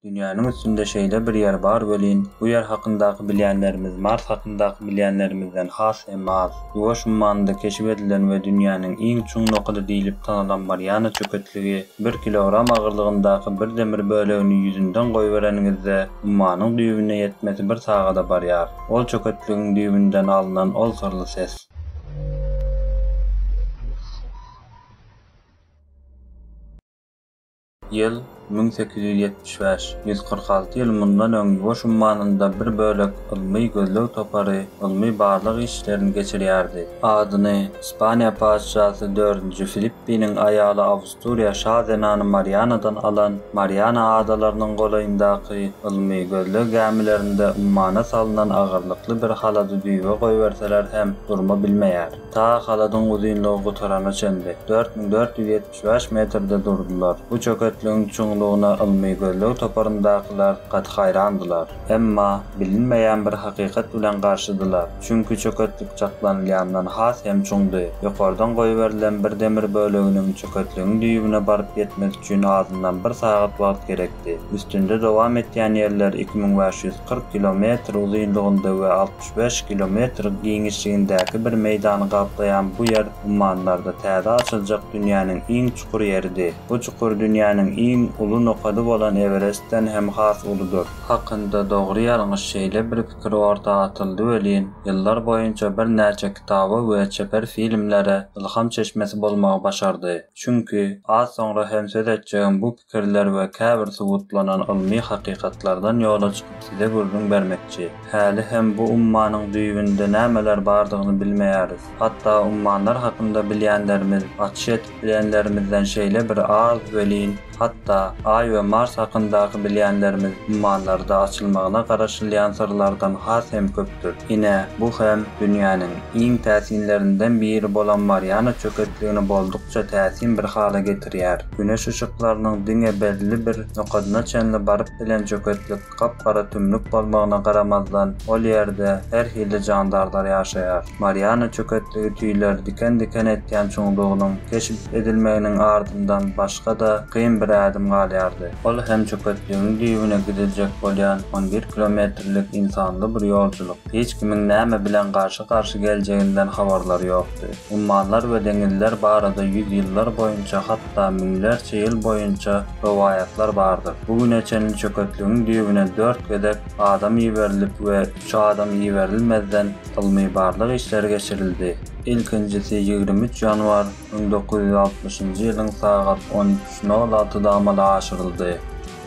Dünýäniň üstünde şeýle bir ýer bar welin, bu ýer hakyndaky bilýänlerimiz Mars hakyndaky bilýänlerimizden has hem az. Ýuwaş ummanda keşip edilen we dünýäniň iň çuň nokady diýlip tanalan Mariana çöketligi, bir kilogram agyrlygyndaky bir demir bölegini ýüzünden goýbereniňizde, ummanyň düýbüne ýetmesi bir sagada barýar. Ol çöketligiň düýbünden alnan ol syrly ses. Ýyl, müň sekiz ýüz ýetmiş bäş, ýüz kyrk alty ýyl mundan öň Ýuwaş ummanynda bir bölek ylmy-gözleg topary ylmy-barlag işlerini geçirýärdi. Adyny Ispaniýa patyşasy dördünji Filippiniň aýaly Awusturiýa şa zenany Marianadan alan Mariana adalarynyň golaýyndaky ylmy-gözleg gämilerinde ummana salnan agyrlykly bir halady düýbe goýberseler hem durma bilmeýär. Ta haladyň uzynlygy gutarana çenli, dört müň dört ýüz Üç-bäş metrde durdular. Bu çöketligiň çuňlugyna ylmy gözleg toparyndakylar gaty haýrandylar. Emma, bilinmeýän bir hakykat bilen garşydylar. Çünki çöketlik çaklanylýandan has hem çuňdy. Ýokardan goýberilen bir demir böleginiň çöketligiň düýbüne baryp ýetmesi üçin azyndan bir sagat wagt gerekdi. Üstünde dowam etýän ýerler iki müň bäş ýüz kyrk kilometr uzynlygynda we altmyş üç, beş kilometr giňişligindäki bir meýdany gaplaýan bu ýer ummanlarda täze açyljak dünýäniň iň çukur ýeridi. Bu çukur dünýäniň iň uly nokady bolan Ewerestden hem has uludyr. Hakynda dogry-ýalňyş şeýle bir pikir orta atyldy welin, ýyllar boýunça birnäçe kitaba we çeper filmlere ylham çeşmesi bolmagy başardy. Çünki, az soňra hem söz etjegim bu pikirler we käbir subutlanan ylmy hakykatlardan ýola çykyp size gürrüň bermekçi. Häli hem bu ummanyň düýbünde nämeler bardygyny bilmeýäris. Hatda ummanlar hakynda bilýänlerimiz, açyş edip bilenlerimizden şeýle bir az welin, hatda Aý we Mars hakyndaky bilýänlerimiz ummanlarda açylmagyna garaşylýan syrlardan has hem köpdür. Ine, bu hem dünýäniň iň täsinlerinden biri bolan Mariana çöketligini boldukça täsin bir hala getirýär. Güneş yşyklarynyň diňe belli bir nokadyna çenli baryp bilen çöketlik gap-gara tümlük bolmagyna garamazdan, ol ýerde her hili jandarlar ýaşaýar. Mariana çöketligi tüýler diken-diken etýän çuňlugynyň keşp edilmeginiň ardyndan başga-da kyn bir ädim galýardy. Ol hem çöketligiň düýbüne gidiljek bolýan on bir kilometrlik ynsanly bir ýolçulyk. Hiç kimiň näme bilen garşy-garşy geljeginden habarlary ýok. Ummanlar we deňizler barada ýüzýyllar boýunça, hatda müňlerçe ýyl boýunça rowaýatlar bardyr. Bu güne çenli çöketligiň düýbüne dört gezek adam iberilip we üç adam iberilmezden ylmy-barlag işleri geçirildi. Ilkinjisi ýigrimi üç ýanwar müň dokuz ýüz altmyşynjy ýylyň sagat on üç nol altyda amala aşyryldy.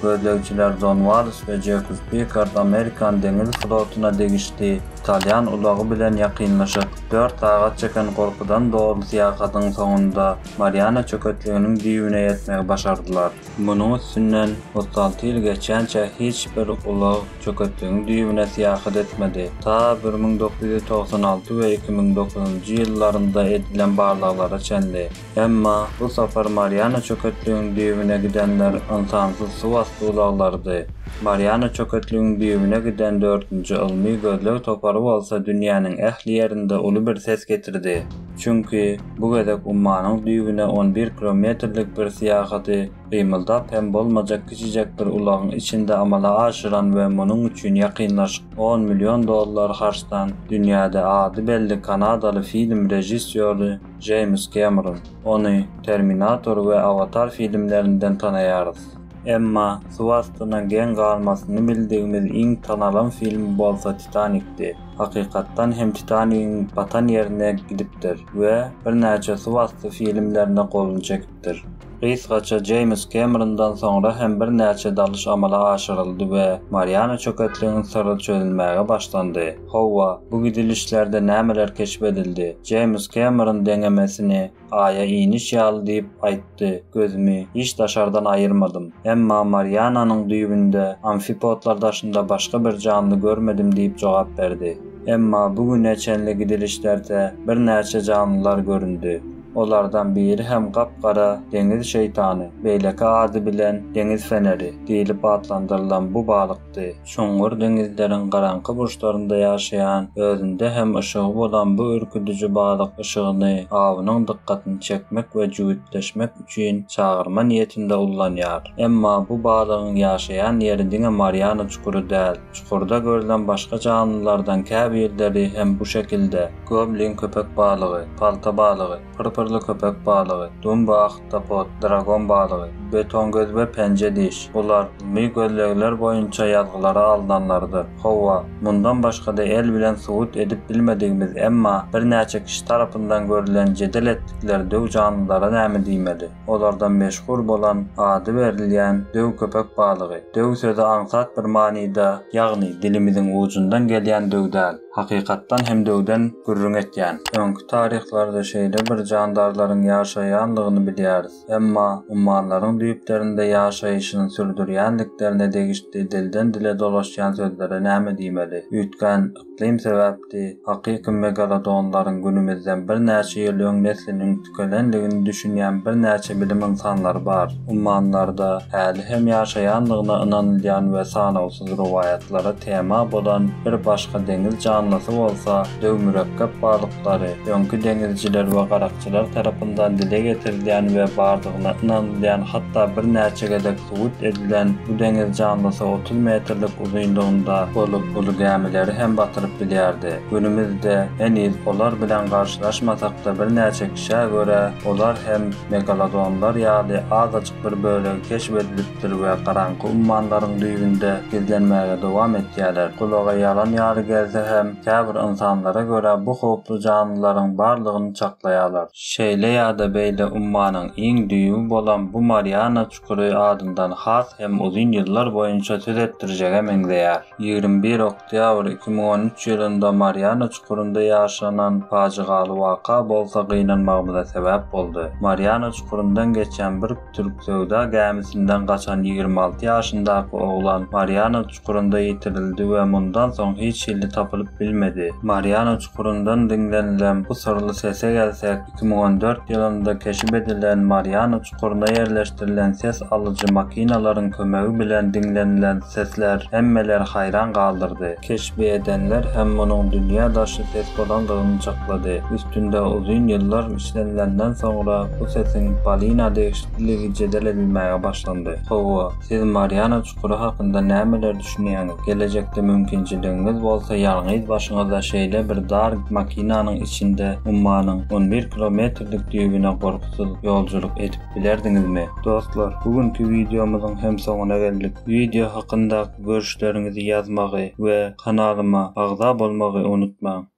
Gözlegçiler Jon Wallis we Jekobs Pikard Amerikan deňiz flotuna degişli italýan ulagy bilen ýakynlaşyk dört sagat çeken gorkudan doly syýahatyň soňunda Mariana çöketliginiň düýbüne ýetmegi başardylar. Munuň üstünden otuz alty ýyl geçýänçä hiç bir ulag çöketligiň düýbüne syýahat etmedi. Ta bir müň dokuz ýüz togsan alty we iki müň dokuzynjy ýyllarynda edilen barlaglara çenli. Emma bu sapar Mariana çöketligiň düýbüne gidenler ynsansyz suwasty ulaglarydy. Mariana çöketligiň düýbüne giden dördünji ylmy gözleg topary bolsa dünýäniň ähli ýerinde uly bir ses getirdi. Çünki, bu gezek ummanyň düýbüne on bir kilometrlik bir syýahaty gymyldap hem bolmajak kiçijek bir ulagyň içinde amala aşyran we munuň üçin ýakynlaşyk on million dollar harçdan dünýäde ady belli kanadaly film režissýory Jeýms Kemron. Ony Terminator we Awatar filmlerinden tanaýarys. Emma suw astyna geň galmasyny bildigimiz iň tanalan film bolsa Titanikdi. Hakykatdan hem Titanigiň batan ýerine gidipdir we birnäçe suw asty filmlerine goluny çekipdir. Gysgaça Jeýms Kemrondan soňra hem birnäçe dalyş amala aşyryldy we Mariana çöketligiň syry çözülmäge başlandy. Hawa, bu gidilişlerde nämeler keşp edildi? Jeýms Kemeron deňemesini Aýa iniş ýaly diýip aýtdy, Gözümi hiç daşardan aýyrmadym. Emma Mariananyň düýbünde amfipodlar daşynda başga bir janly görmedim diýip jogap berdi. Emma bu güne çenli gidilişlerde birnäçe janlylar göründi. Olardan biri hem gap-gara deňiz şeýtany, beýleki ady bilen deňiz feneri diýlip atlandyrylan bu balykdy. çykdy. Çuňňur deňizleriň garaňky burçlarynda ýaşaýan, özünde hem yşygy bolan bu ürküdiji balyk yşygyny awynyň dykgatyny çekmek we jübütleşmek üçin çagyrma niýetinde ullanýar. Emma bu balygyň ýaşaýan ýeri diňe Mariana çukury däl. Çukurda görlen başga janlylardan käbirleri hem bu şekilde. Goblin köpek balygy, palta balygy. Pyrpyrly köpek balygy, dumba ahtapot, dragon balygy, betongöz we penje diş, bular ylmy gözlegler boýunça ýazgylara alnanlardyr. Hawa, mundan başga-da el bilen subut edip bilmedigimiz, emma birnäçe kişi tarapyndan görülen jedel etdikleri döw janlylara näme diýmeli? Olardan meşhur bolan, ady berilýän döw köpek balygy. Döw sözi aňsat bir manyda, ýagny dilimiziň ujundan gelýän döw däl. Hakykatdan hem döwden gürrüň etýän öňki taryhlarda şeýle bir jandarlaryň ýaşaýandygyny bilýäris. Emma ummanlaryň düýplerinde ýaşaýşyny sürdürýändiklerine degişdi dilden dile dolaşýan sözlere näme diýmeli? Üýtgän yklym sebäpdi, hakyky megalodonlaryň günümizden birnäçe ýyl öň nesliniň tükenendigini düşünýän birnäçe bilim ynsanlary bar. Ummanlarda häli hem ýaşaýandygyna ynanylýan we sanawsyz rowaýatlara tema bolan bir başga deňiz janlysy bolsa döw-mürekgep balyklary öňki deňizçiler we garakçylar tarapyndan dile getirilýän we bardygyna ynanylýan hatda birnäçe gezek subut edilen bu deňiz janlysy otuz metrlik uzynlygynda bolup uly gämileri hem batyryp bilýärdi. Günümizde heniz olar bilen garşylaşmasak-da birnäçe kişä görä olar hem megalodonlar ýaly azajyk bir bölegi keşp edilipdir we garaňky ummanlaryň düýbünde gizlenmäge dowam etýärler. Gulaga ýalan ýaly gelse hem käbir ynsanlara görä bu howply janlylaryň barlygyny çaklaýarlar. Şeýle ýa-da beýle ummanyň iň düýbi bolan bu Mariana çukury adyndan has hem uzyn ýyllar boýunça söz etdirjege meňzeýär. Ýigrimi bir ok. Oktýabr iki müň on üç ýylynda Mariana çukurynda ýaşanan pajygaly waka bolsa gynanmagymyza sebäp boldy. Mariana çukuryndan geçýän bir türk söwda gämisinden gaçan ýigrimi alty ýaşyndaky oglan Mariana çukurynda ýitirildi we mundan soň hiç hilli tapylyp bilmedi. Mariana çukuryndan diňlenilen bu syrly sese gelsek, iki müň on dört ýylynda keşip edilen Mariana Çukurda ýerleşdirilen ses alyjy makinalaryň kömegi bilen diňlenilen sesler hemmeleri haýran galdyrdy. Keşbi edenler hem munuň dünýä daşy ses bolandygyny çaklady. Üstünde uzyn ýyllar işlenilenden soňra bu sesiň Polina degişliligi jedel edilmäge başlandy. Hawa, siz Mariana çukury hakynda nämeler düşünýäňiz? Gelejekde mümkinçiligiňiz bolsa ýalňyz başyňyza şeýle bir dar makinanyň içinde ummanyň on bir kilometrlik düýbüne gorky ýolagçysyz ýolculuk edip bilerdiňizmi? Dostlar, bu günki wideomyzyň hem soňuna geldik. Wideo hakyndaky görüşleriňizi ýazmagy we kanalyma agza bolmagy unutmaň.